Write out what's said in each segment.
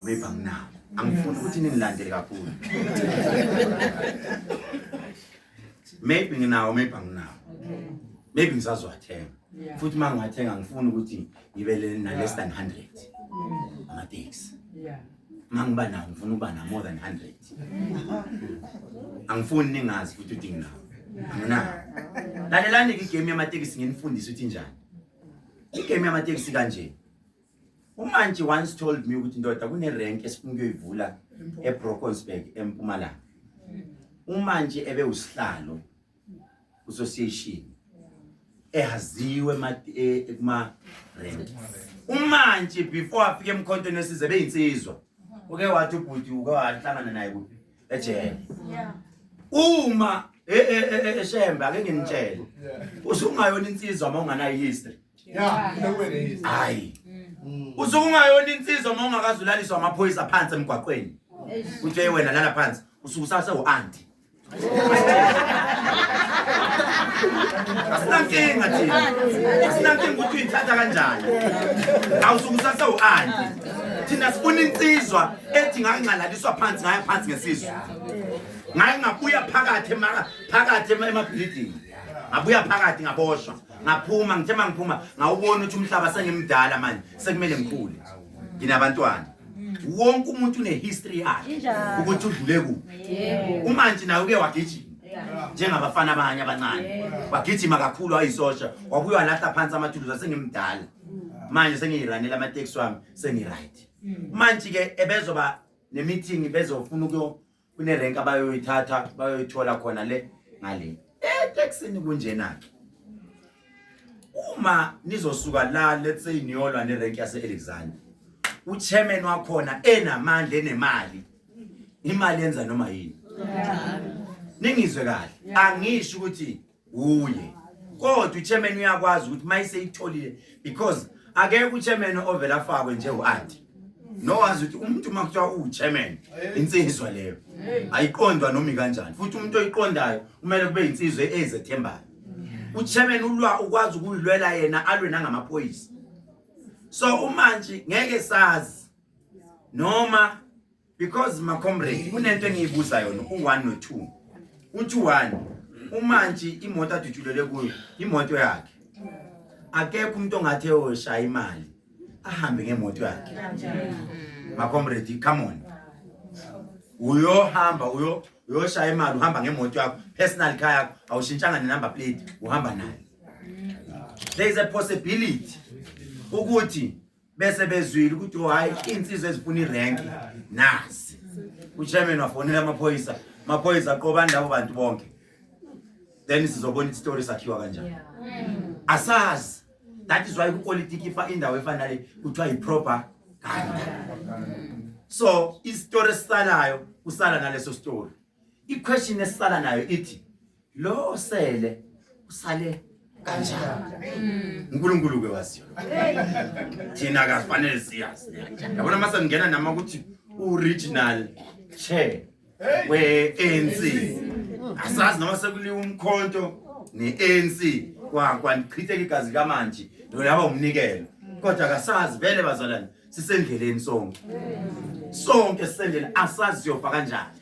maybe anginako angifuni ukuthi ningilandele kakhulu maybe nginawo maybe anginawo maybe ngisazowathenga futhi uma ngingathenga ngifuna ukuthi ngibe na-less than hundred amateksi uma ngiba nawo ngifuna ukuba na-more than hundred angifuni ningazi futhi ukuthi nginawo anginawo lalelani-ke igame yamatekisi nginifundise ukuthi njani igame yamatekisi kanjeni Umantshi once told me ukuthi ndoda kune rank esifuna ukuyoyivula eBrockonsburg eMpumalanga. Umantshi ebe usihlalo uSociation ehaziwe e, kuma rank. Umantshi before afike emkhontweni wesize beyinsizwa. Uke wathi ubhuti uke wahlangana naye kuphi? Ejele. Yeah. Uma eh eh, eh, eh shembe ake nginitshele. Usungayona insizwa uma unganayo history. Yeah, in a way there is. hayi Mm. usuke ungayona insizwa uma ungakaze ulaliswa amaphoyisa phansi emgwaqweni kuthiwe wena lala phansi usuke usase u-anti asinankinga thina asinankinga ukuthi uyithatha kanjani awusuke usase u-anti thina sifuna insizwa ethi ngake ngalaliswa phansi ngaya phansi ngesizwe ngake ngabuya phakathi ema- phakathi ema- emabhilidini ngabuya phakathi ngaboshwa ngaphuma ngithe uma ngiphuma ngawubona ukuthi umhlaba sengimdala manje sekumele ngikhule nginabantwana wonke umuntu une-history yakhe ukuthi udlule kuphi umanje naye uke wagijima njengabafana abanye abancane wagijima kakhulu ayisosha wabuye walahla phansi amathuluzi asengimdala manje sengiyiranela amateksi wami sengi-right manje-ke ebezoba ne-meeting bezofuna ukuyo kunerenki abayoyithatha bayoyithola khona le ngale eteksini kunjena-ke uma nizosuka la let's say niyolwa nerenki yase-alexander uchairman wakhona enamandla enemali imali yenza noma yini ningizwe kahle angisho ukuthi kuye kodwa uchairman uyakwazi ukuthi mayiseyitholile because akekho uchairman ovela afakwe nje uanti nowazi ukuthi umuntu uma kuthiwa uwuchairman insizwa leyo ayiqondwa noma ikanjani futhi umuntu oyiqondayo kumele kube insizwa ezethembayo uchairman ulwa ukwazi ukuyilwela yena alwe nangamaphoyisa so umanje ngeke sazi noma because ma comrade kunento engiyibuza yona u 1 no 2 uthi 1 umantshi imoto adutshulele kuyo imoto yakhe akekho umuntu ongathi eyoshaya imali ahambe ngemoto yakhe ma comrade come on uyohamba uyo uyoshaya imali uhamba ngemoto yakho personal car yakho awushintshanga ne number plate uhamba nayo there is a possibility ukuthi bese bezwile ukuthi oh, hayi insizwa ezifuna irank nazi uchairman wafonela amaphoyisa amaphoyisa aqoba ndabo bantu bonke then sizobona istory sakhiwa kanjani mm. asazi that is why kupolitiki ifa indawo efanele kuthiwa yiproper so istory esalayo usala naleso story iquestion esala nayo ithi lo osele usale kanjani mm. uNkulunkulu ke waziyo thina akafanele siyazi yabona mase ngena nama ukuthi original chair we ANC asazi noma sekuli umkhonto ne ANC kwa kwandichitheka igazi kamanje lo yaba umnikelo kodwa akasazi vele bazalwane sisendleleni sonke sonke sisendleleni asazi siyofa kanjani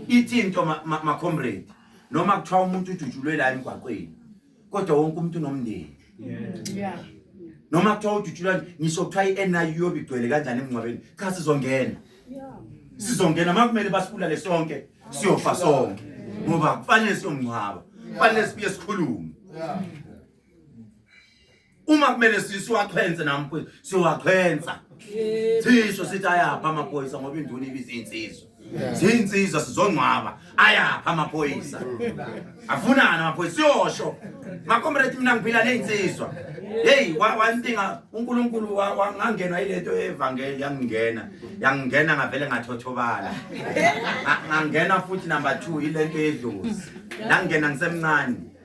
ithi into ma comrade noma kuthiwa umuntu udutshulwe la emgwaqweni kodwa wonke umuntu unomndeni yeah noma kuthiwa udutshulwa ngisho kuthiwa i-NIU yobe igcwele kanjani emngcwabeni cha sizongena sizongena uma kumele basibulale sonke siyofa sonke ngoba kufanele siyomngcwaba kufanele sibuye sikhulume uma kumele siwachwense namaphoyisa siwachwensa sisho sithi ayapha amaphoyisa ngoba induna ibiza iy'nsizwa ziyinsizwa sizongcwaba ayapha amaphoyisa afunani amaphoyisa siyosho makomredi mina ngiphila ney'nsizwa heyi one thing uh, unkulunkulu wangangenwa ilento evangeli yangingena yangingena ngavele ngathothobala ngangena futhi number two ilento yedlozi langingena ngisemncane